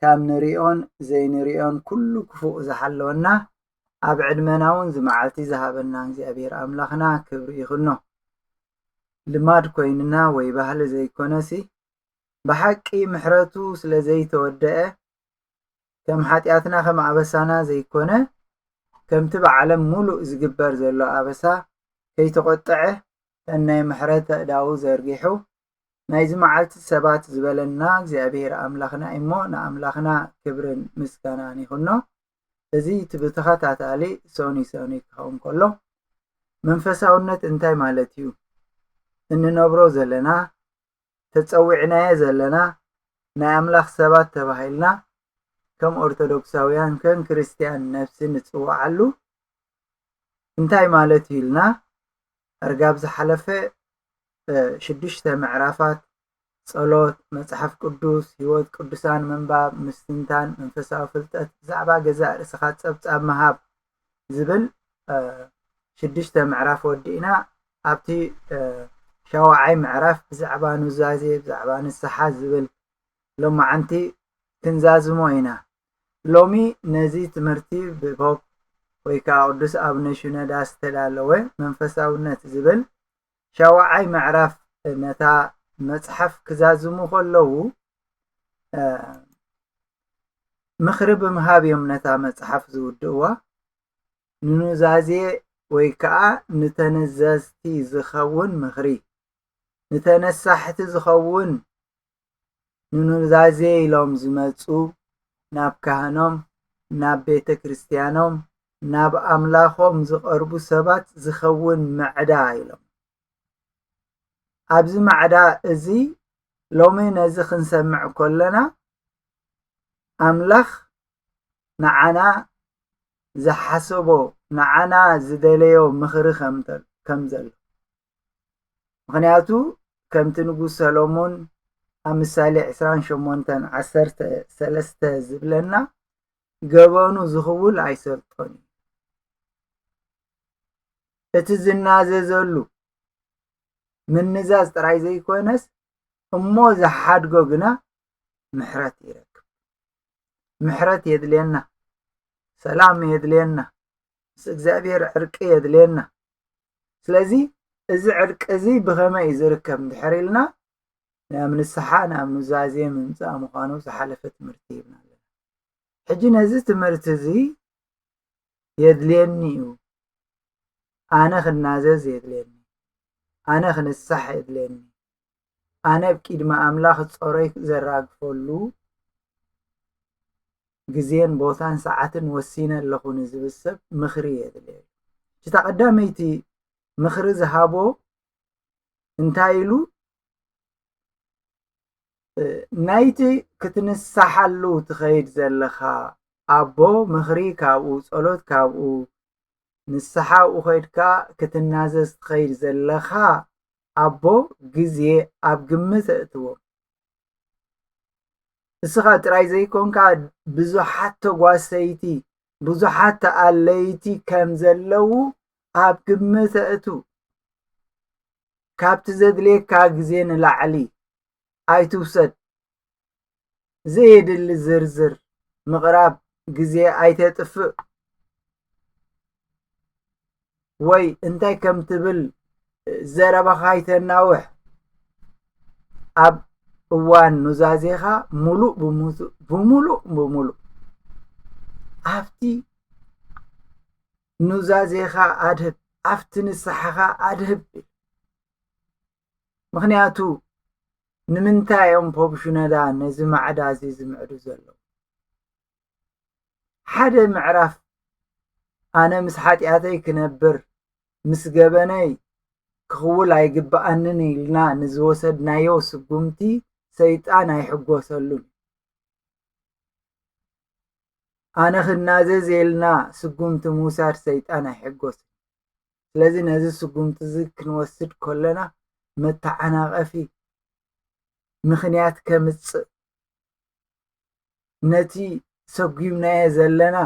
ካብ ንሪኦን ዘይንሪኦን ኩሉ ክፉእ ዝሓለወና ኣብ ዕድመና ውን እዚ መዓልቲ ዝሃበና እግዚኣብሔር ኣምላኽና ክብሪ ይኽኖ። ልማድ ኮይንና ወይ ባህሊ ዘይኮነሲ ብሓቂ ምሕረቱ ስለ ዘይተወደኣ ከም ሓጢኣትና ከም ኣበሳና ዘይኮነ ከምቲ ብዓለም ሙሉእ ዝግበር ዘሎ ኣበሳ ከይተቖጠዐ ሰናይ ምሕረት ኣእዳዉ ዘርጊሑ ናይዚ መዓልቲ ሰባት ዝበለና እግዚኣብሔር ኣምላኽና እዩ እሞ ንኣምላኽና ክብርን ምስጋናን ይኹኖ እዚ እቲ ብተኸታታሊ ሰኑይ ሰኑይ ክኸውን ከሎ መንፈሳውነት እንታይ ማለት እዩ እንነብሮ ዘለና ተጸዊዕናየ ዘለና ናይ ኣምላኽ ሰባት ተባሂልና ከም ኦርቶዶክሳውያን ከም ክርስትያን ነፍሲ ንጽውዓሉ እንታይ ማለት እዩ ኢልና እርጋብ ዝሓለፈ ሽዱሽተ ምዕራፋት ጸሎት፣ መጽሓፍ ቅዱስ፣ ህይወት ቅዱሳን ምንባብ፣ ምስትንታን፣ መንፈሳዊ ፍልጠት፣ ብዛዕባ ገዛእ ርእስኻ ጸብጻብ ምሃብ ዝብል ሽዱሽተ ምዕራፍ ወዲእና ኣብቲ ሻውዓይ ምዕራፍ ብዛዕባ ኑዛዜ ብዛዕባ ንስሓ ዝብል ሎማዓንቲ ክንዛዝሞ ኢና። ሎሚ ነዚ ትምህርቲ ብፖፕ ወይ ከዓ ቅዱስ ኣብነ ሽኖዳ ዝተዳለወ መንፈሳውነት ዝብል ሻውዓይ ምዕራፍ ነታ መጽሓፍ ክዛዝሙ ከለዉ ምኽሪ ብምሃብ እዮም ነታ መጽሓፍ ዝውድእዋ ንኑዛዜ ወይ ከዓ ንተነዘዝቲ ዝኸውን ምኽሪ ንተነሳሕቲ ዝኸውን ንኑዛዜ ኢሎም ዝመጹ ናብ ካህኖም ናብ ቤተ ክርስቲያኖም ናብ ኣምላኾም ዝቐርቡ ሰባት ዝኸውን ማዕዳ ኢሎም ኣብዚ ማዕዳ እዚ ሎሚ ነዚ ክንሰምዕ ከሎና ኣምላኽ ንዓና ዝሓሰቦ ንዓና ዝደለዮ ምኽሪ ከም ዘሎ ምኽንያቱ ከምቲ ንጉስ ሰሎሞን ኣብ ምሳሌ ዕስራን ሸሞንተን ዓሰርተ ሰለስተ ዝብለና ገበኑ ዝኽውል ኣይሰልጦን እዩ እቲ ዝናዘዘሉ ምንዛዝ ጥራይ ዘይኮነስ እሞ ዝሓድጎ ግና ምሕረት ይረክብ ምሕረት የድልየና ሰላም የድልየና ምስ እግዚኣብሔር ዕርቂ የድልየና ስለዚ እዚ ዕርቂ እዚ ብኸመይ እዩ ዝርከብ እንድሕር ኢልና ናብ ንስሓ ናብ ኑዛዜ ምምፃእ ምዃኑ ዝሓለፈ ትምህርቲ ይብና ኣለና ሕጂ ነዚ ትምህርቲ እዚ የድልየኒ እዩ ኣነ ክናዘዝ የድልየኒ ኣነ ክንሳሕ የድልየኒ ኣነ ብ ቂድሚ ኣምላኽ ጾሮይ ዘራግፈሉ ግዜን ቦታን ሰዓትን ወሲነ ኣለኹ ንዝብል ሰብ ምኽሪ የድልዮ እዩ። ሕጂ እታ ቀዳመይቲ ምኽሪ ዝሃቦ እንታይ ኢሉ ናይቲ ክትንሳሓሉ ትኸይድ ዘለኻ ኣቦ ምኽሪ ካብኡ ጸሎት ካብኡ ንስሓ ኣብኡ ኸይድካ ክትናዘዝ ትኸይድ ዘለኻ ኣቦ ግዜ ኣብ ግምት ኣእትዎ። ንስኻ ጥራይ ዘይኮንካ ብዙሓት ተጓሰይቲ ብዙሓት ተኣለይቲ ከም ዘለዉ ኣብ ግምት ኣእቱ ካብቲ ዘድልየካ ግዜ ንላዕሊ ኣይትውሰድ ዘየድሊ ዝርዝር ምቕራብ ግዜ ኣይተጥፍእ ወይ እንታይ ከም ትብል ዘረባኻ ኣይተናውሕ ኣብ እዋን ኑዛዜኻ ሙሉእ ብሙሉእ ብሙሉእ ኣብቲ ኑዛዜኻ ኣድህብ ኣብቲ ንስሓኻ ኣድህብ ምኽንያቱ ንምንታይ እዮም ፖብሽነዳ ነዚ ማዕዳ እዚ ዝምዕዱ ዘለዉ ሓደ ምዕራፍ ኣነ ምስ ሓጢኣተይ ክነብር ምስ ገበነይ ክኽውል ኣይግብኣንን ኢልና ንዝወሰድናዮ ስጉምቲ ሰይጣን ኣይሕጎሰሉን ኣነ ክናዘዝ ኢልና ስጉምቲ ምውሳድ ሰይጣን ኣይሕጎስን ስለዚ ነዚ ስጉምቲ እዚ ክንወስድ ከሎና መተዓናቐፊ ምኽንያት ከምጽእ ነቲ ሰጒምናዮ ዘለና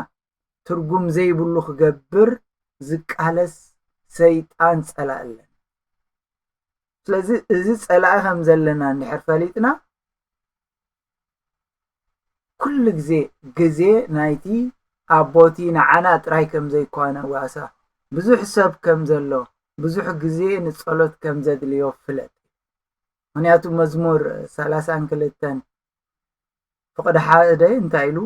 ትርጉም ዘይብሉ ክገብር ዝቃለስ ሰይጣን ጸላእ ኣለና ስለዚ እዚ ጸላኢ ከም ዘለና እንድሕር ፈሊጥና ኩሉ ግዜ ግዜ ናይቲ ኣቦ'ቲ ንዓና ጥራይ ከም ዘይኰነ ዋሳ ብዙሕ ሰብ ከም ዘሎ ብዙሕ ግዜ ንጸሎት ከም ዘድልዮ ፍለጥ ምኽንያቱ መዝሙር ሰላሳን ክልተን ፍቕዲ ሓደ እንታይ ኢሉ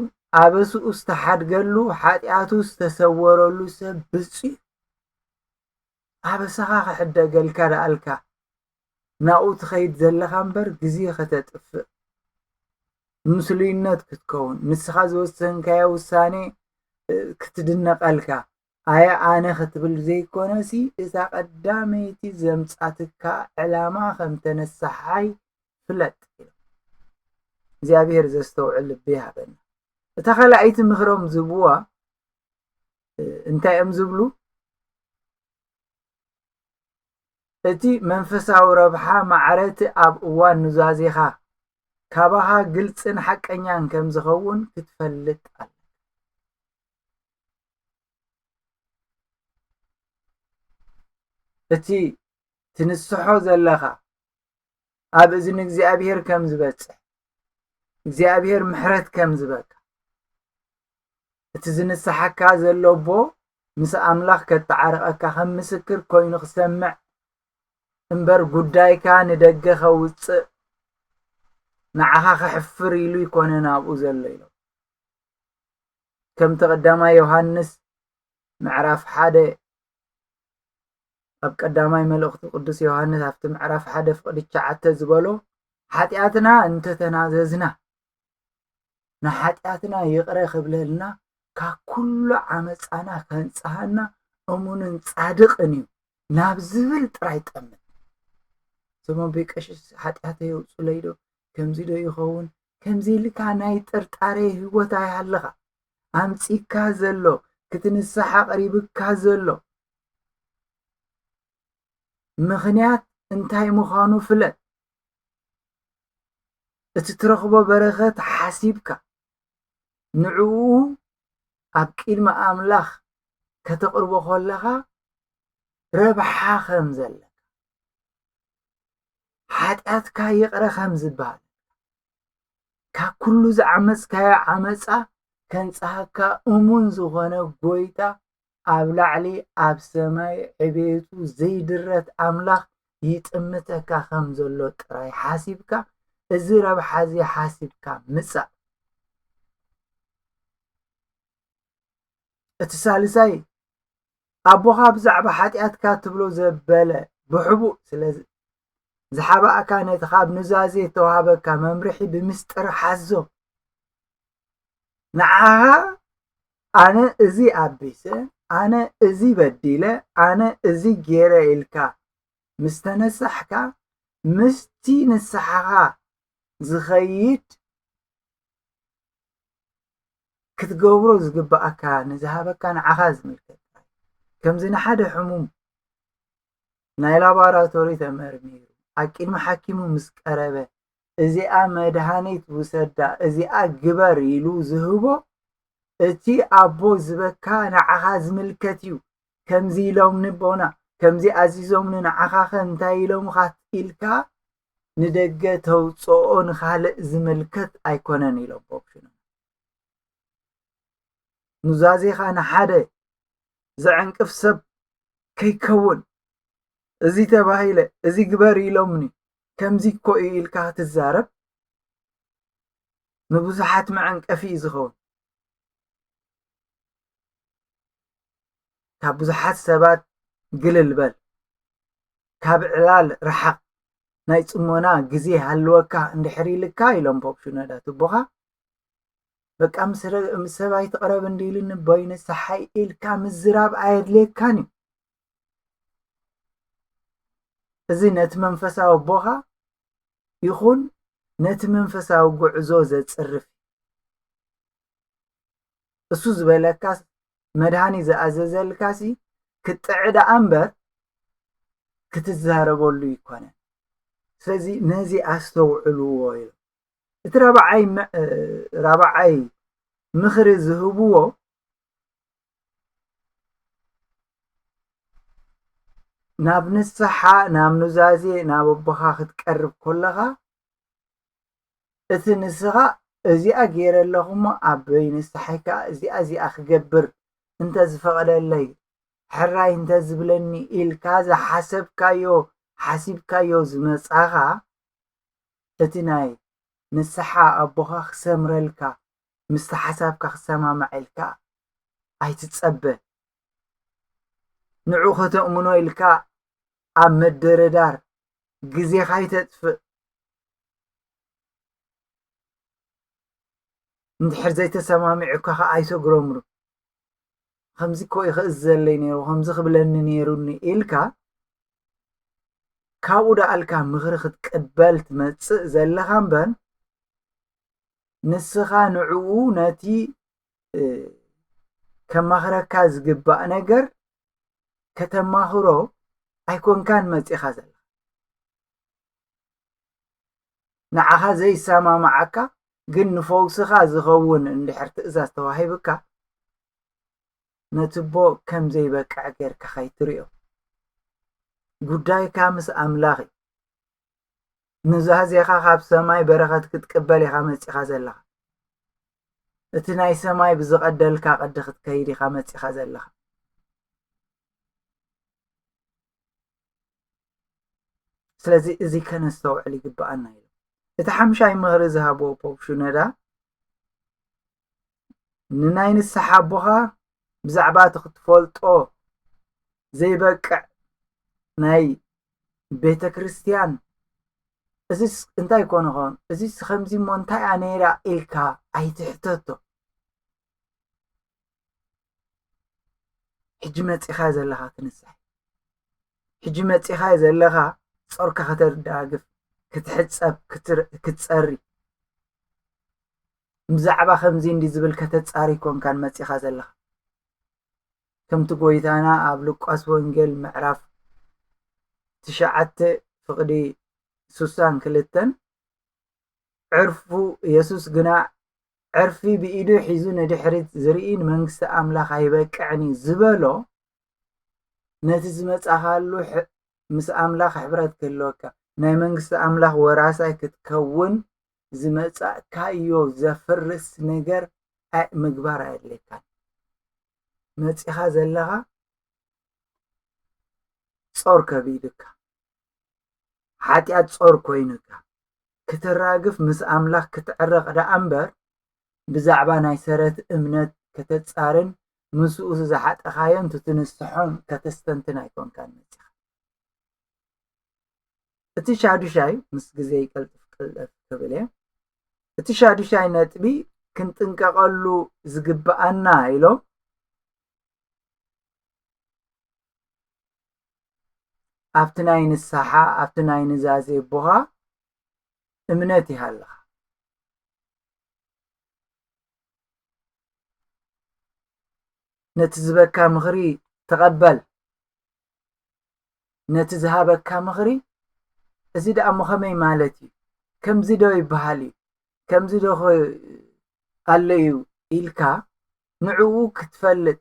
ኣበስኡ ዝተሓድገሉ ሓጢኣቱ ዝተሰወረሉ ሰብ ብጹእ እዩ ኣበሳኻ ክሕደገልካ ደኣልካ ናብኡ ትኸይድ ዘለኻ እምበር ግዜ ከተጥፍእ ምስሉይነት ክትከውን ንስኻ ዝወሰንካዮ ውሳኔ ክትድነቐልካ ኣየ ኣነ ክትብል ዘይኮነሲ እታ ቀዳመይቲ ዘምጻትካ ዕላማ ከም ተነሳሓይ ፍለጥ እግዚኣብሔር ዘስተውዕል ልቢ ይሃበና እታ ካልኣይቲ ምክሮም ዝብዋ እንታይ እዮም ዝብሉ እቲ መንፈሳዊ ረብሓ ማዕረ'ቲ ኣብ እዋን ኑዛዜኻ ካባኻ ግልጽን ሓቀኛን ከም ዝኸውን ክትፈልጥ ኣለካ። እቲ ትንስሖ ዘለኻ ኣብ እዝኒ እግዚኣብሔር ከም ዝበጽሕ እግዚኣብሔር ምሕረት ከም ዝበካ እቲ ዝንስሓካ ዘሎ ኣቦ ምስ ኣምላኽ ከተዓርቐካ ከም ምስክር ኮይኑ ክሰምዕ እምበር ጉዳይካ ንደገ ከውጽእ ንዓኻ ከሕፍር ኢሉ ይኮነ ናብኡ ዘሎ ኢሎ ከምቲ ቀዳማይ ዮሃንስ ምዕራፍ ሓደ ኣብ ቀዳማይ መልእኽቱ ቅዱስ ዮሃንስ ኣብቲ ምዕራፍ ሓደ ፍቕዲ ትሽዓተ ዝበሎ ሓጢኣትና እንተተናዘዝና ንሓጢኣትና ይቕረ ክብለልና ካብ ኩሉ ዓመፃና ከንፅሃና እሙንን ፃድቕን እዩ ናብ ዝብል ጥራይ ጠምን እዞም ኣቦይ ቀሽስ ሓጢኣተይ የውፁለይ ዶ ከምዚ ዶ ይኸውን ከምዚ ኢልካ ናይ ጥርጣሬ ህይወት ኣይሃልኻ ኣምጺካ ዘሎ ክትንሳሕ ኣቕሪብካ ዘሎ ምኽንያት እንታይ ምዃኑ ፍለጥ እቲ ትረኽቦ በረኸት ሓሲብካ ንዕኡ ኣብ ቅድሚ ኣምላኽ ከተቕርቦ ከለኻ ረብሓ ከም ዘለካ ሓጢኣትካ ይቕረ ከም ዝበሃል ካብ ኩሉ ዝዓመፅካዮ ዓመፃ ከንፅሃካ እሙን ዝኾነ ጎይታ ኣብ ላዕሊ ኣብ ሰማይ ዕቤቱ ዘይድረት ኣምላኽ ይጥምተካ ከም ዘሎ ጥራይ ሓሲብካ እዚ ረብሓ እዚ ሓሲብካ ምፃእ እቲ ሳልሳይ ኣቦኻ ብዛዕባ ሓጢኣትካ ትብሎ ዘበለ ብሕቡእ ስለ ዝሓባእካ ነቲ ካብ ኑዛዜ እተዋህበካ መምርሒ ብምስጢር ሓዞ ንዓኻ ኣነ እዚ ኣቢሰ ኣነ እዚ በዲለ ኣነ እዚ ገይረ ኢልካ ምስ ተነሳሕካ ምስቲ ንስሓኻ ዝኸይድ ክትገብሮ ዝግብኣካ ንዝሃበካ ንዓኻ ዝምልከት ከምዚ ንሓደ ሕሙም ናይ ላቦራቶሪ ተመርሚሩ ኣብ ቅድሚ ሓኪሙ ምስ ቀረበ እዚኣ መድሃኒት ውሰዳ እዚኣ ግበር ኢሉ ዝህቦ እቲ ኣቦ ዝበካ ንዓኻ ዝምልከት እዩ ከምዚ ኢሎምኒ ቦና ከምዚ ኣዚዞምኒ ንዓኻኸ እንታይ ኢሎምኻት ኢልካ ንደገ ተውፅኦ ንካልእ ዝምልከት ኣይኮነን ኢሎም ኮሚሽነር ኑዛዜኻ ንሓደ ዘዕንቅፍ ሰብ ከይከውን እዚ ተባሂለ እዚ ግበር ኢሎምኒ ከምዚ እኮ እዩ ኢልካ ክትዛረብ ንብዙሓት መዐንቀፊ እዩ ዝኸውን። ካብ ብዙሓት ሰባት ግልል በል፣ ካብ ዕላል ርሓቕ፣ ናይ ጽሞና ግዜ ሃልወካ እንድሕር ኢልካ ኢሎም ፖፕ ሽኖዳ ትቦኻ በቃ ምስ ሰብ ኣይትቕረብ እንዲ ኢሉኒ ቦይ ንስሓይ ኢልካ ምዝራብ ኣየድልየካን እዩ እዚ ነቲ መንፈሳዊ ኣቦኻ ይኹን ነቲ መንፈሳዊ ጉዕዞ ዘጽርፍ እሱ ዝበለካስ መድሃኒት ዝኣዘዘልካሲ ክትጥዕ ደኣ እምበር ክትዛረበሉ ኣይኮነን። ስለዚ ነዚ ኣስተውዕልዎ ኢሉ እቲ ራብዓይ ራብዓይ ምኽሪ ዝህብዎ ናብ ንስሓ ናብ ኑዛዜ ናብ ኣቦኻ ክትቀርብ ኮለኻ እቲ ንስኻ እዚኣ ጌረ ኣለኹ እሞ ኣቦይ ንስሓይ ከኣ እዚኣ እዚኣ ክገብር እንተዝፈቕደለይ ሕራይ እንተዝብለኒ ኢልካ ዝሓሰብካዮ ሓሲብካዮ ዝመጻኻ እቲ ናይ ንስሓ ኣቦኻ ክሰምረልካ ምስቲ ሓሳብካ ክሰማማዕ ኢልካ ኣይትጸበ ንዑ ከተእምኖ ኢልካ ኣብ ምድርዳር ግዜኻ ኣይተጥፍእ። እንድሕር ዘይተሰማሚዑካ ኸኣ ኣይተጉረምሩ ከምዚ እኮ እዩ ክእዘለይ ነይሩ ከምዚ ክብለኒ ነይሩኒ ኢልካ ካብኡ ደኣልካ ምኽሪ ክትቅበል ትመጽእ ዘለኻ እምበር ንስኻ ንዕኡ ነቲ ከማኽረካ ዝግባእ ነገር ከተማኽሮ ኣይኮንካን መጺኻ ዘለኻ ንዓኻ ዘይሰማማዓካ ግን ንፈውስኻ ዝኸውን እንድሕር ትእዛዝ ተዋሂብካ ነትቦ ከም ዘይበቅዕ ጌርካ ከይትሪኦ ጉዳይካ ምስ ኣምላኽ እዩ ኑዛዜኻ ካብ ሰማይ በረኸት ክትቅበል ኢኻ መጺኻ ዘለኻ እቲ ናይ ሰማይ ብዝቐደልካ ቅዲ ክትከይድ ኢኻ መጺኻ ዘለኻ ስለዚ እዚ ከነስተውዕል ይግባኣና ኢሉ እቲ ሓምሻይ ምኽሪ ዝሃቦ ፖፕ ሽኖዳ ንናይ ንስሓ ኣቦኻ ብዛዕባ እቲ ክትፈልጦ ዘይበቅዕ ናይ ቤተ ክርስቲያን እዚስ እንታይ ኮነ ኾን እዚስ ከምዚ እሞ እንታይ እያ ነይራ ኢልካ ኣይትሕተቶ ሕጂ መጺኻዮ ዘለኻ ክንሳሕ ሕጂ መጺኻዮ ዘለኻ ጾርካ ከተዳግፍ ክትሕጸብ ክትጸሪ ብዛዕባ ከምዚ እንዲ ዝብል ከተጻሪ ኮንካን መጺኻ ዘለኻ ከምቲ ጎይታና ኣብ ሉቃስ ወንጌል ምዕራፍ ትሽዓተ ፍቕዲ ሱሳን ክልተን ዕርፉ የሱስ ግና ዕርፊ ብኢዱ ሒዙ ንድሕሪት ዝርኢ ንመንግስቲ ኣምላኽ ኣይበቅዕን እዩ ዝበሎ ነቲ ዝመጻኻሉ ምስ ኣምላኽ ሕብረት ክህልወካ ናይ መንግስቲ ኣምላኽ ወራሳይ ክትከውን ዝመጻእካዮ ዘፍርስ ነገር ምግባር ኣየድልየካን መጺኻ ዘለኻ ጾር ከቢድካ ሓጢኣት ጾር ኮይኑካ ክተራግፍ ምስ ኣምላኽ ክትዕረቕ ደኣ እምበር ብዛዕባ ናይ ሰረት እምነት ከተጻርን ምስኡ ዝሓጠኻዮን ትትንስሖን ከተስተንትን ኣይኮንካን መጺኻ። እቲ ሻዱሻይ ምስ ግዜ ይቀልጥፍ ቅልጥፍ ክብል እየ እቲ ሻዱሻይ ነጥቢ ክንጥንቀቐሉ ዝግብኣና ኢሎም ኣብቲ ናይ ንስሓ ኣብቲ ናይ ኑዛዜ ኣቦኻ እምነት ይሃልኻ። ነቲ ዝበካ ምኽሪ ተቐበል ነቲ ዝሃበካ ምኽሪ እዚ ደኣ እሞ ከመይ ማለት እዩ ከምዚ ዶ ይበሃል እዩ ከምዚ ዶ ኣሎ እዩ ኢልካ ንዕኡ ክትፈልጥ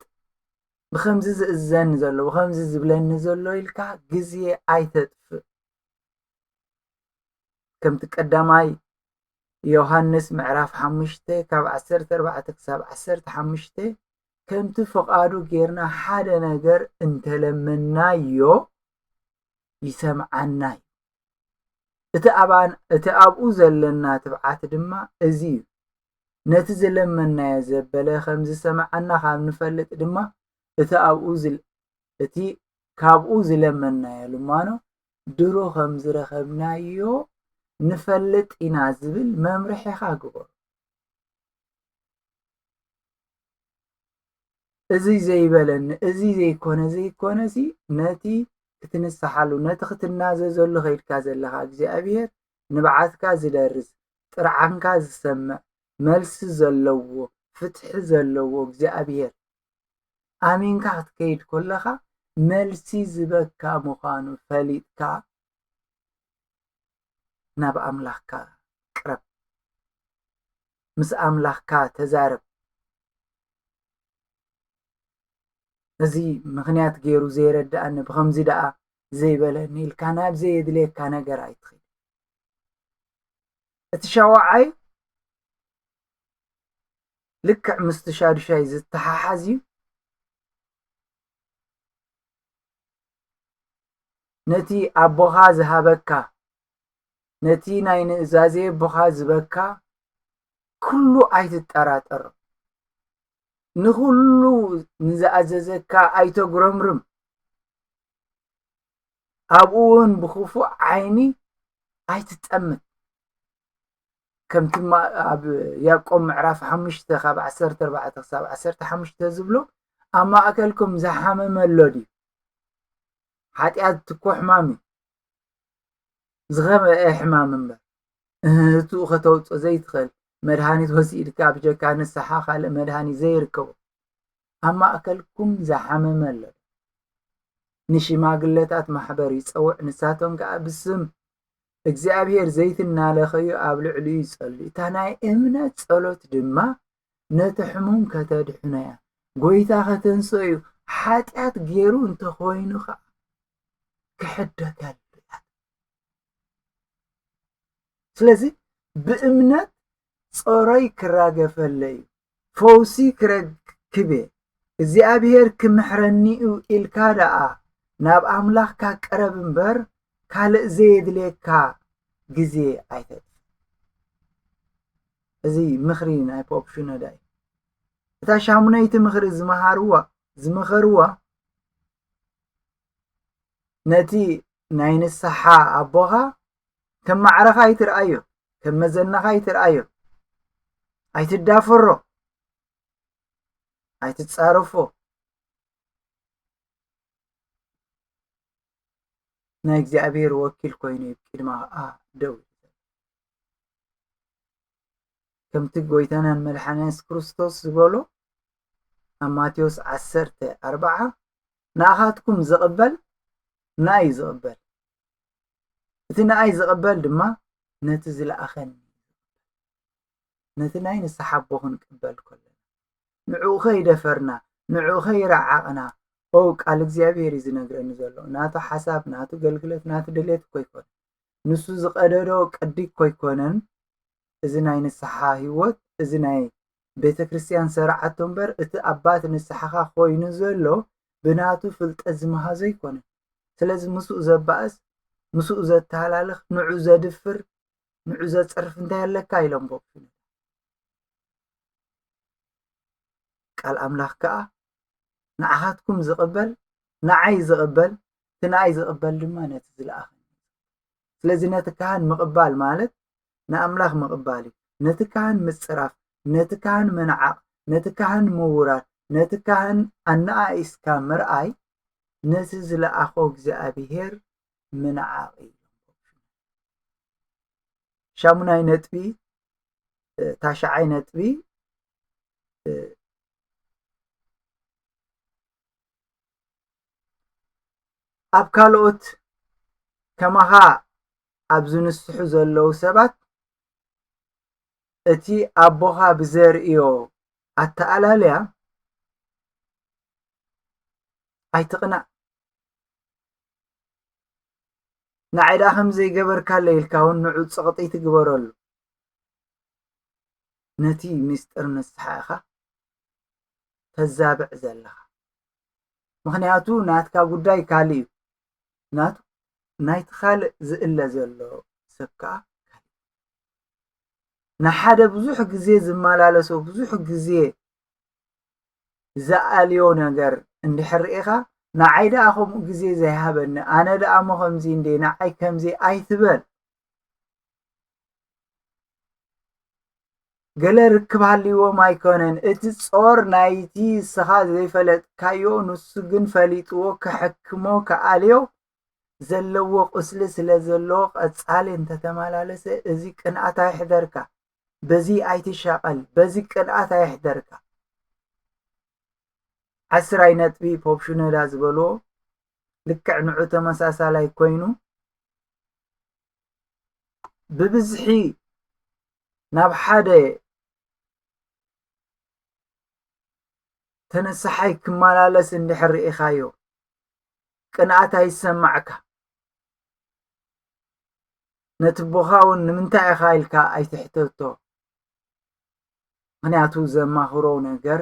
ብኸምዚ ዝእዝዘኒ ዘሎ ብኸምዚ ዝብለኒ ዘሎ ኢልካ ግዜ ኣይተጥፍእ ከምቲ ቀዳማይ ዮሃንስ ምዕራፍ ሓሙሽተ ካብ ዓሰርተ ኣርባዕተ ክሳብ ዓሰርተ ሓሙሽተ ከምቲ ፍቓዱ ጌርና ሓደ ነገር እንተለመናዮ ይሰምዓና እዩ እቲ ኣብኡ ዘለና ትብዓት ድማ እዚ እዩ ነቲ ዝለመንናዮ ዘበለ ኸም ዝሰምዓና ኻብ ንፈልጥ ድማ እቲ ኣብኡ እቲ ካብኡ ዝለመንናዮ ልማኖ ድሮ ኸም ዝረኸብናዮ ንፈልጥ ኢና ዝብል መምርሒኻ ግበሮ። እዚ ዘይበለኒ እዚ ዘይኮነ ዘይኮነሲ ነቲ ክትንስሓሉ ነቲ ክትናዘዘሉ ኸይድካ ዘለኻ እግዚኣብሔር ንብዓትካ ዝደርስ ጥርዓንካ ዝሰምዕ መልሲ ዘለዎ ፍትሒ ዘለዎ እግዚኣብሄር ኣሚንካ ክትከይድ ኮለኻ መልሲ ዝበካ ምዃኑ ፈሊጥካ ናብ ኣምላኽካ ቅረብ ምስ ኣምላኽካ ተዛረብ እዚ ምኽንያት ገይሩ ዘይረድኣኒ ብኸምዚ ደኣ ዘይበለኒ ኢልካ ናብ ዘየድልየካ ነገር ኣይትኺድ እቲ ሻውዓይ ልክዕ ምስቲ ሻዱሻይ ዝተሓሓዝ እዩ ነቲ ኣቦኻ ዝሃበካ ነቲ ናይ ንእዛዜ ኣቦኻ ዝበካ ኩሉ ኣይትጠራጠሮ ንኹሉ ንዝኣዘዘካ ኣይተጉረምርም ኣብኡ እውን ብክፉእ ዓይኒ ኣይትጠምት ከምቲ ኣብ ያቆብ ምዕራፍ ሓሙሽተ ካብ ዓሰርተ ኣርባዕተ ክሳብ ዓሰርተ ሓሙሽተ ዝብሎ ኣብ ማእከልኩም ዝሓመመ ኣሎ ድዩ ሓጢኣት ትኮ ሕማም እዩ ዝኸበአ ሕማም እምበር እህቱ ከተውፅ ዘይትኽእል መድሃኒት ወሲድካ ብጀካ ንስሓ ካልእ መድሃኒት ዘይርከቦ ኣብ ማእከልኩም ዝሓመመ ኣሎ ዶ? ንሽማግለታት ማሕበር ይጸውዕ፣ ንሳቶም ከኣ ብስም እግዚኣብሄር ዘይቲ እናለኸዩ ኣብ ልዕሊኡ ይጸልዩ። እታ ናይ እምነት ጸሎት ድማ ነቲ ሕሙም ከተድሕኖ እያ፣ ጐይታ ከተንስኦ እዩ፣ ሓጢኣት ገይሩ እንተ ዀይኑ ኸኣ ክሕደገሉ እያ። ስለዚ ብእምነት ጾሮይ ክራገፈለ'ዩ፣ ፈውሲ ክረክብ'የ፣ እግዚኣብሄር ክምሕረኒ'ዩ ኢልካ ደኣ ናብ ኣምላኽካ ቅረብ እምበር ካልእ ዘየድልየካ ግዜ ኣይተጥፍእ። እዚ ምኽሪ ናይ ፖፕ ሽኖዳ እዩ። እታ ሻሙነይቲ ምኽሪ ዝመሃርዋ ዝመኸርዋ ነቲ ናይ ንስሓ ኣቦኻ ከም ማዕረኻ ኣይትርኣዮ ከም መዘናኻ ኣይትርኣዮ ኣይትዳፈሮ ኣይትጻረፎ ናይ እግዚኣብሔር ወኪል ኮይኑ ቅድማ ከዓ ደው ከምቲ ጎይታናን መድሓና የሱስ ክርስቶስ ዝበሎ ኣብ ማቴዎስ ዓሰርተ ኣርባዓ ንኣኻትኩም ዝቕበል ንኣይ ዝቕበል እቲ ንኣይ ዝቕበል ድማ ነቲ ዝለኣኸኒ ነቲ ናይ ንስሓ ኣቦ ክንቅበል ከለና ንዕኡ ከይደፈርና ንዕኡ ከይረዓቕና ኦ ቃል እግዚኣብሔር እዩ ዝነግረኒ ዘሎ ናቱ ሓሳብ ናቱ ገልግለት ናቱ ድሌት እኮ ኣይኮነ ንሱ ዝቐደዶ ቅዲ እኮ ኣይኮነን እዚ ናይ ንስሓ ህይወት እዚ ናይ ቤተ ክርስቲያን ሰርዓቶ እምበር እቲ ኣባት ንስሓኻ ኮይኑ ዘሎ ብናቱ ፍልጠት ዝመሃዞ ኣይኮነን ስለዚ ምስኡ ዘባእስ ምስኡ ዘተሃላልኽ ንዑ ዘድፍር ንዑ ዘጽርፍ እንታይ ኣለካ ኢሎም ቦክሱ ቃል ኣምላኽ ከኣ ንዓኻትኩም ዝቕበል ንዓይ ዝቕበል እቲ ንኣይ ዝቕበል ድማ ነቲ ዝለኣኸኒ ስለዚ ነቲ ካህን ምቕባል ማለት ንኣምላኽ ምቕባል እዩ ነቲ ካህን ምጽራፍ ነቲ ካህን ምንዓቕ ነቲ ካህን ምውራድ ነቲ ካህን ኣነኣኢስካ ምርኣይ ነቲ ዝለኣኾ እግዚኣብሄር ምንዓቕ እዩ። ሻሙናይ ነጥቢ ታሽዓይ ነጥቢ ኣብ ካልኦት ከማኻ ኣብ ዝንስሑ ዘለዉ ሰባት እቲ ኣቦኻ ብዘርእዮ ኣተኣላልያ ኣይትቕናእ ንዓይ ደኣ ከምዘይገበርካለይ ኢልካ እውን ንዑ ፀቕጢ ትግበረሉ ነቲ ምስጢር ንስሓ ኢኻ ተዛብዕ ዘለኻ ምክንያቱ ናትካ ጉዳይ ካልእ እዩ ናቱ ናይቲ ካልእ ዝእለ ዘሎ ሰብ ከዓ ካልእ ንሓደ ብዙሕ ግዜ ዝመላለሶ ብዙሕ ግዜ ዝኣልዮ ነገር እንድሕር ርኢኻ ንዓይ ደኣ ከምኡ ግዜ ዘይሃበኒ ኣነ ደኣ እሞ ከምዚ እንዴ ንዓይ ከምዚ ኣይትበል ገለ ርክብ ሃልይዎም ኣይኮነን እቲ ጾር ናይቲ ንስኻ ዘይፈለጥካዮ ንሱ ግን ፈሊጥዎ ክሕክሞ ክኣልዮ ዘለዎ ቁስሊ ስለ ዘለዎ ቀጻሊ እንተተመላለሰ እዚ ቅንኣት ኣይሕደርካ በዚ ኣይትሻቀል በዚ ቅንኣት ኣይሕደርካ ዓስራይ ነጥቢ ፖፕ ሽኖዳ ዝበልዎ ልክዕ ንዑ ተመሳሳላይ ኮይኑ ብብዝሒ ናብ ሓደ ተነሳሓይ ክመላለስ እንድሕር ርኢኻዮ ቅንኣት ኣይሰማዕካ ነቲ ቦኻ ውን ንምንታይ ኢኻ ኢልካ ኣይትሕተቶ ምኽንያቱ ዘማህሮ ነገር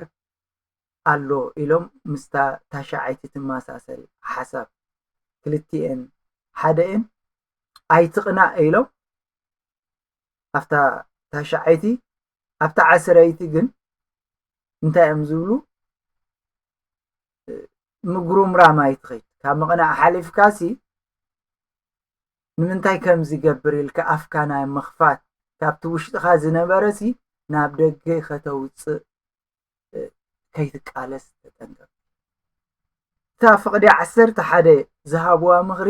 ኣሎ ኢሎም ምስታ ታሽዓይቲ ትመሳሰል ሓሳብ ክልቲኤን ሓደ እየን ኣይትቅናእ ኢሎም ኣብታ ታሽዓይቲ ኣብታ ዓስረይቲ ግን እንታይ እዮም ዝብሉ ምጉርምራም ኣይትኸይድ ካብ ምቕናእ ሓሊፍካሲ ንምንታይ ከምዚ ይገብር ኢልካ ኣፍካ ናይ ምኽፋት ካብቲ ውሽጥኻ ዝነበረሲ ናብ ደገ ከተውጽእ ከይትቃለስ ተጠንቀቕ። እታ ፍቕዲ ዓሰርተ ሓደ ዝሃብዋ ምኽሪ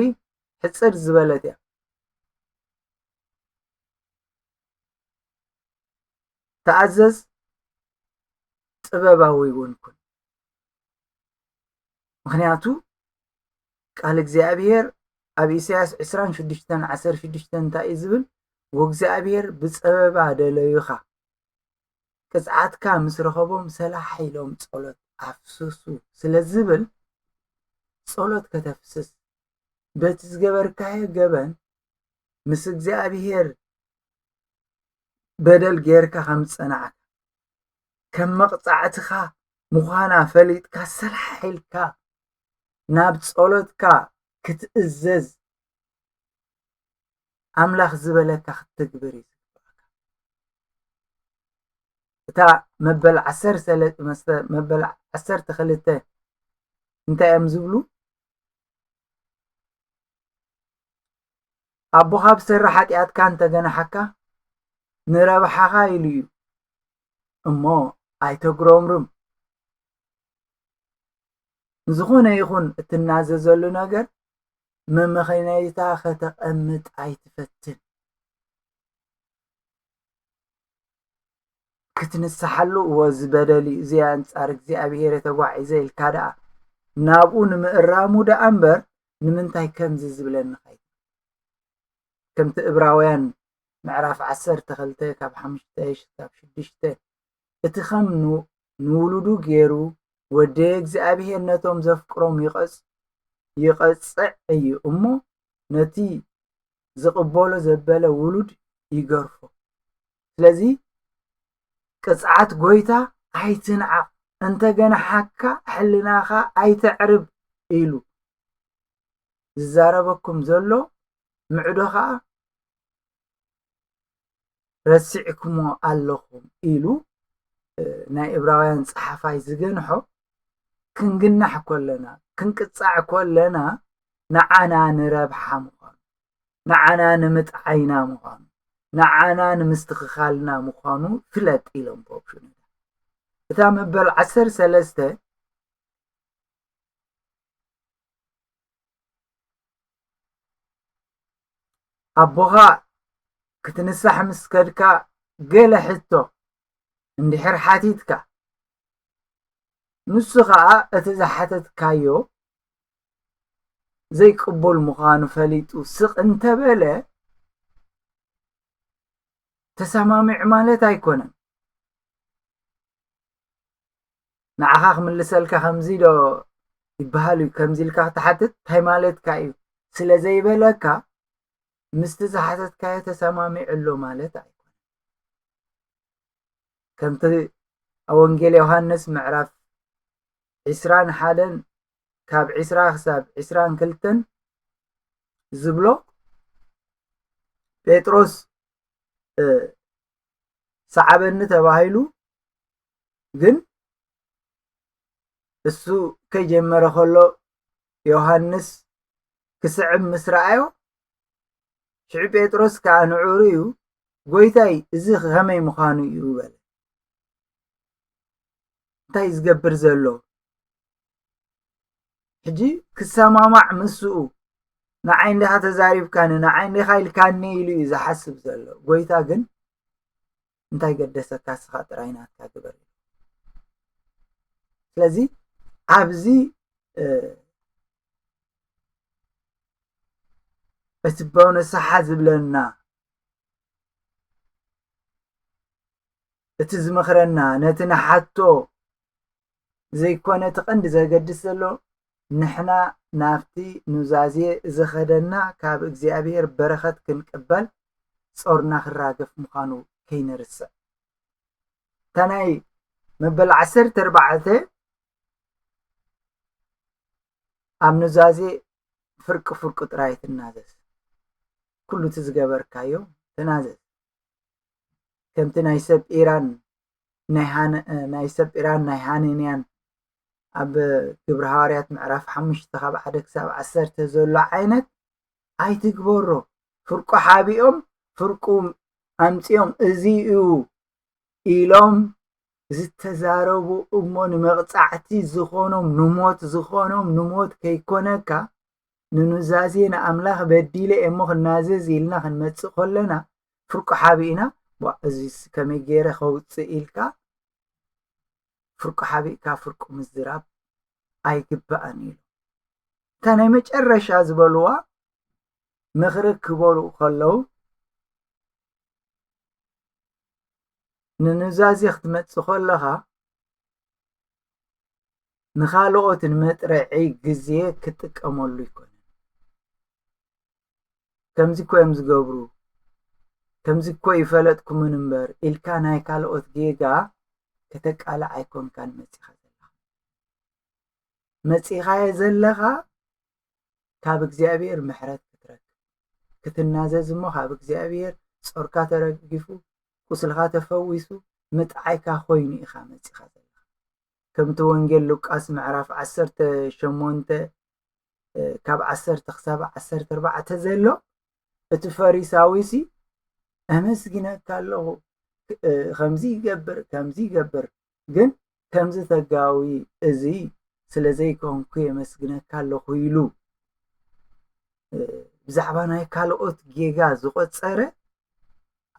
ሕጽር ዝበለት እያ። ተኣዘዝ ጥበባዊ እውን ኩን። ምኽንያቱ ቃል እግዚኣብሔር ኣብ ኢሳያስ ዕስራን ሽዱሽተን ዓሰርተ ሽዱሽተን እንታይ እዩ ዝብል ወእግዚኣብሔር ብፀበባ ደለዩኻ ቅፅዓትካ ምስ ረኸቦም ሰላሕ ኢሎም ጸሎት ኣፍስሱ ስለ ዝብል ጸሎት ከተፍስስ በቲ ዝገበርካዮ ገበን ምስ እግዚኣብሔር በደል ጌርካ ከም ዝጸናዕካ ከም መቕጻዕትኻ ምዃና ፈሊጥካ ሰላሕ ኢልካ ናብ ጸሎትካ ክትእዘዝ ኣምላኽ ዝበለካ ክትትግብር እዩ እታ መበል ዓሰርተ መስተ መበል ዓሰርተ ክልተ እንታይ እዮም ዝብሉ ኣቦኻ ብሰሪ ሓጢኣትካ እንተገናሓካ ንረብሓኻ ኢሉ እዩ እሞ ኣይተጉረምርም ንዝኾነ ይኹን እትናዘዘሉ ነገር መመኸነይታ ከተቐምጥ ኣይትፈትን ክትንስሓሉ እወ እዚ በደል እዩ እዚ ኣንጻር እግዚኣብሄር ተጓዒዘ ኢልካ ደኣ ናብኡ ንምእራሙ ደኣ እምበር ንምንታይ ከምዚ ዝብለኒ ኸይ ከምቲ እብራውያን ምዕራፍ ዓሰርተ ክልተ ካብ ሓሙሽተ ክሳብ ሽዱሽተ እቲ ኸም ንውሉዱ ገይሩ ወደየ እግዚኣብሄር ነቶም ዘፍቅሮም ይቐጽዕ እዩ እሞ ነቲ ዝቅበሎ ዘበለ ውሉድ ይገርፎ ስለዚ ቅጽዓት ጎይታ ኣይትንዓቅ እንተ ገናሓካ ሕልናካ ኣይተዕርብ ኢሉ ዝዛረበኩም ዘሎ ምዕዶ ከኣ ረሲዕክሞ ኣለኹም ኢሉ ናይ እብራውያን ጸሓፋይ ዝገንሖ ክንግናሕ ኮለና ክንቅጻዕ ኮለና ንዓና ንረብሓ ምዃኑ ንዓና ንምጥዓይና ምዃኑ ንዓና ንምስትኽኻልና ምዃኑ ፍለጥ ኢሎም ፖፕ ሽኖዳ እታ መበል ዓሰር ሰለስተ ኣቦኻ ክትንሳሕ ምስ ከድካ ገለ ሕቶ እንድሕር ሓቲትካ ንሱ ኸኣ እቲ ዝሓተትካዮ ዘይቅቡል ምዃኑ ፈሊጡ ስቕ እንተበለ ተሰማሚዑ ማለት ኣይኮነን። ንዓኻ ክምልሰልካ ከምዚ ዶ ይበሃል እዩ ከምዚ ኢልካ ክትሓትት እንታይ ማለትካ እዩ ስለ ዘይበለካ ምስቲ ዝሓተትካዮ ተሰማሚዑ ኣሎ ማለት ኣይኮነን ከምቲ ኣብ ወንጌል ዮሃንስ ምዕራፍ ዕስራን ሓደን ካብ ዕስራ ክሳብ ዕስራን ክልተን ዝብሎ ጴጥሮስ ሰዓበኒ ተባሂሉ ግን እሱ ከይጀመረ ከሎ ዮሃንስ ክስዕብ ምስ ረኣዮ ሽዑ ጴጥሮስ ከዓ ንዑ ርእዩ ጎይታይ እዚ ከመይ ምዃኑ እዩ በለ እንታይ እዩ ዝገብር ዘሎ ሕጂ ክሰማማዕ ምስኡ ንዓይ እንዲኻ ተዛሪብካኒ ንዓይ እንዲኻ ኢልካኒ ኢሉ እዩ ዝሓስብ ዘሎ ጎይታ ግን እንታይ ገደሰካ እስኻ ጥራይ ናትካ ግበር ኢሉ ስለዚ ኣብዚ እቲ በውነሳሓ ዝብለና እቲ ዝመኽረና ነቲ ንሓቶ ዘይኮነ እቲ ቀንዲ ዘገድስ ዘሎ ንሕና ናብቲ ኑዛዜ ዘኸደና ካብ እግዚኣብሔር በረኸት ክንቅበል ጾርና ክራገፍ ምዃኑ ከይንርስዕ። እታ ናይ መበል ዓሰርተ ኣርባዕተ ኣብ ኑዛዜ ፍርቂ ፍርቁ ጥራይ ትናዘዝ ኩሉ እቲ ዝገበርካዮ ተናዘዝ ከምቲ ናይ ሰብ ኢራን ናይ ሃነ ናይ ሰጲራን ናይ ሃነንያን ኣብ ግብረ ሃዋርያት ምዕራፍ ሓሙሽተ ካብ ሓደ ክሳብ ዓሰርተ ዘሎ ዓይነት ኣይትግበሮ ፍርቁ ሓቢኦም ፍርቁ ኣምፂኦም እዚ እዩ ኢሎም ዝተዛረቡ እሞ ንመቕፃዕቲ ዝኾኖም ንሞት ዝኾኖም ንሞት ከይኮነካ ንኑዛዜ ንኣምላኽ በዲለ እየ እሞ ክናዘዝ ኢልና ክንመጽእ ከለና ፍርቁ ሓቢእና ዋ እዚስ ከመይ ገይረ ከውጽእ ኢልካ ፍርቁ ሓቢእካ ፍርቁ ምዝራብ ኣይግባእን ኢሉ እታ ናይ መጨረሻ ዝበልዋ ምኽሪ ክበሉ ከለዉ ንኑዛዜ ክትመጽእ ከለኻ ንኻልኦት ንመጥረዒ ግዜ ክጥቀመሉ ኣይኮነን ከምዚ እኮ እዮም ዝገብሩ ከምዚ እኮ ይፈለጥኩምን እምበር ኢልካ ናይ ካልኦት ጌጋ ከተቃልዕ ኣይኮንካን መፂኻ ዘለኻ መፂኻዮ ዘለኻ ካብ እግዚኣብሔር ምሕረት ክትረክብ ክትናዘዝ እሞ ካብ እግዚኣብሔር ጾርካ ተረጊፉ ቁስልካ ተፈዊሱ ምጥዓይካ ኮይኑ ኢኻ መጺኻ ዘለኻ ከምቲ ወንጌል ሉቃስ ምዕራፍ 18 ካብ 10 ክሳብ 14 ዘሎ እቲ ፈሪሳዊ ሲ ኣመስግነካ ኣለኹ ከምዚ ይገብር ከምዚ ይገብር ግን ከምዚ ተጋዊ እዚ ስለ ዘይኮንኩ የመስግነካ ኣለኹ ኢሉ ብዛዕባ ናይ ካልኦት ጌጋ ዝቆጸረ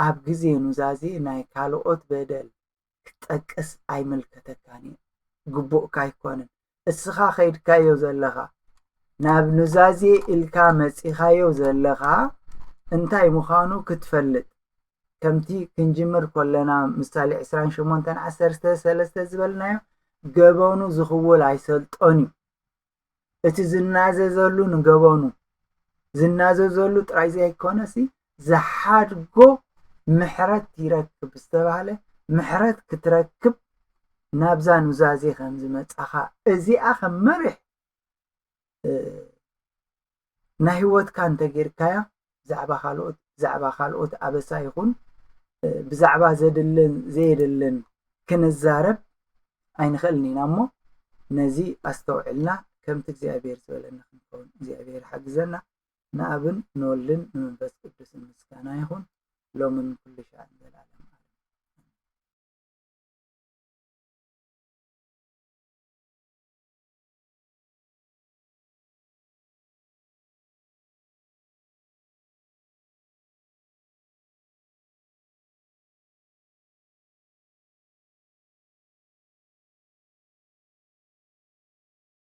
ኣብ ግዜ ኑዛዜ ናይ ካልኦት በደል ክትጠቅስ ኣይምልከተካን እዩ ግቡእካ ኣይኮነን እስኻ ከይድካዮ ዘለኻ ናብ ኑዛዜ ኢልካ መጺኻዮ ዘለኻ እንታይ ምዃኑ ክትፈልጥ ከምቲ ክንጅምር ኮለና ምሳሌ 28 13 ዝበልናዮ ገበኑ ዝኽውል ኣይሰልጦን እዩ እቲ ዝናዘዘሉ ንገበኑ ዝናዘዘሉ ጥራይ ዘይኮነሲ ዝሓድጎ ምሕረት ይረክብ ዝተባህለ ምሕረት ክትረክብ ናብዛ ኑዛዜ ከም ዝመጻኻ እዚኣ ከም መሪሕ ናይ ህይወትካ እንተጌርካያ ብዛዕባ ካልኦት ብዛዕባ ካልኦት ኣበሳ ይኹን ብዛዕባ ዘድልን ዘየድልን ክንዛረብ ኣይንኽእልን ኢና እሞ ነዚ ኣስተውዕልና ከምቲ እግዚኣብሔር ዝበለና ክንከውን እግዚኣብሔር ሓግዘና ንኣብን ንወልድን ንመንፈስ ቅዱስን ምስጋና ይኹን ሎምን ኩሉ ሻዕን ዘልኣለመ ኣለም ኣሜን።